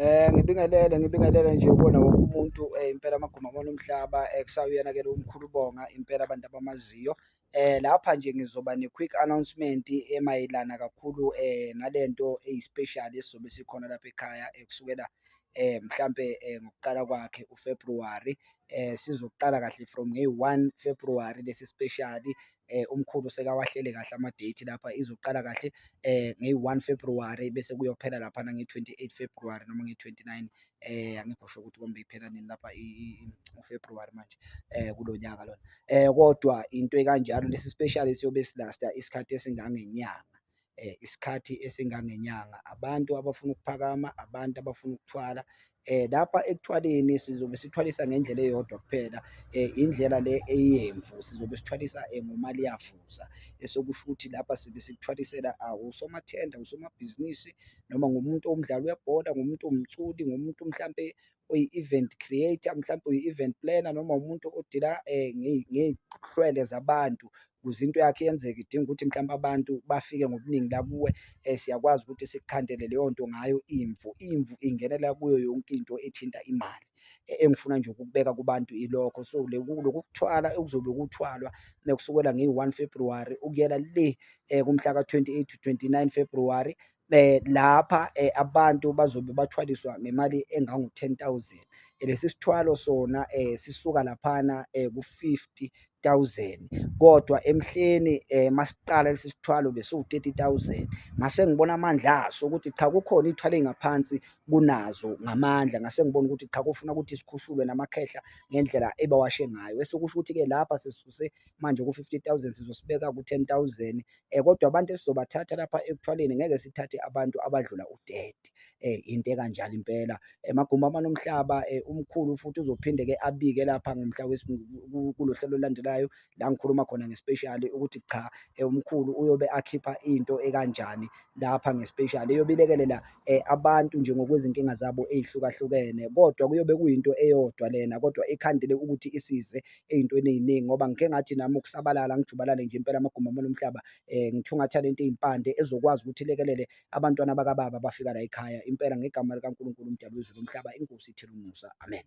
Um ngibingelele ngibingelele nje kuwona wonke umuntu um impela amaguma abona umhlaba um kusawuyena ke lo mkhulu ubonga impela abantu abamaziyo um lapha nje ngizoba ne-quick announcement emayelana kakhulu um nale nto eyi-special esizobe sikhona lapha ekhaya kusukela um mhlampe um ngokuqala kwakhe ufebruwari um sizoqala kahle from ngeyi-one februwari lesi speciali eh umkhulu sekawahlele kahle ama date lapha izoqala kahle eh nge-1 February bese kuyophela lapha na nge-28 February noma nge-29 eh angikho sho ukuthi kombe iphela nini lapha uFebruary manje eh kulo nyaka lona eh kodwa into ekanjalo lesi special siyobe silasta isikhathi esingangenyanga isikhathi esingangenyanga. Abantu abafuna ukuphakama, abantu abafuna ukuthwala lapha ekuthwaleni sizobe sithwalisa ngendlela eyodwa kuphela indlela le eyemvu sizobe sithwalisa ngomali yavuza esokusho ukuthi lapha sibe sikuthwalisela usomathenda, usomabhizinisi noma ngomuntu owumdlali webhola, ngomuntu owumculi, ngomuntu mhlampe oyi-event creator, mhlampe uyi-event planner noma umuntu odila ngey'hlwele zabantu ukuze into yakho yenzeke idinga ukuthi mhlawumbe abantu bafike ngobuningi la kuwe um siyakwazi ukuthi sikukhandele leyo nto ngayo imvu. Imvu ingenela kuyo yonke into ethinta imali. E, engifuna nje ukukubeka kubantu ilokho. So loku kuthwala okuzobe kuthwalwa uma kusukela ngeyi-one February ukuyela le um kumhla ka-twenty eight to twenty nine February Eh, lapha eh, abantu bazobe bathwaliswa ngemali engangu-ten thousand eh, lesi sithwalo sona eh, sisuka laphana eh, ku-fifty thousand kodwa emhleni eh, masiqala lesi sithwalo besiwu-thirty thousand ngase ngibona amandla aso ukuthi cha kukhona iy'thwalo ey'ngaphansi kunazo ngamandla ngase ngibona ukuthi cha kufuna ukuthi sikhushulwe namakhehla ngendlela ebawashe ngayo esekusho ukuthi-ke lapha sisuse manje ku-fifty thousand sizosibeka ku-ten thousand um kodwa abantu esizobathatha lapha ekuthwaleni ngeke sithathe abantu abadlula udedi um into ekanjalo impela emagumbi amanomhlaba um umkhulu futhi uzophinde-ke abike lapha ngomhla kulo hlelo olulandelayo la ngikhuluma khona ngespeshali ukuthi qha um umkhulu uyobe akhipha into ekanjani lapha ngespeshali eyobe ilekelela um abantu nje ngokwezinkinga zabo ey'hlukahlukene kodwa kuyobe kuyinto eyodwa lena kodwa ikhandele ukuthi isize ey'ntweni ey'ningi ngoba ngike ngathi nami ukusabalala ngijubalale nje impela amagumbi amane omhlaba um ngithungatha le nto ey'mpande ezokwazi ukuthi ilekelele abantwana bakababa abafika la ekhaya impela ngegama likaNkulunkulu umdali wezulu umhlaba inkosi ithela umusa amen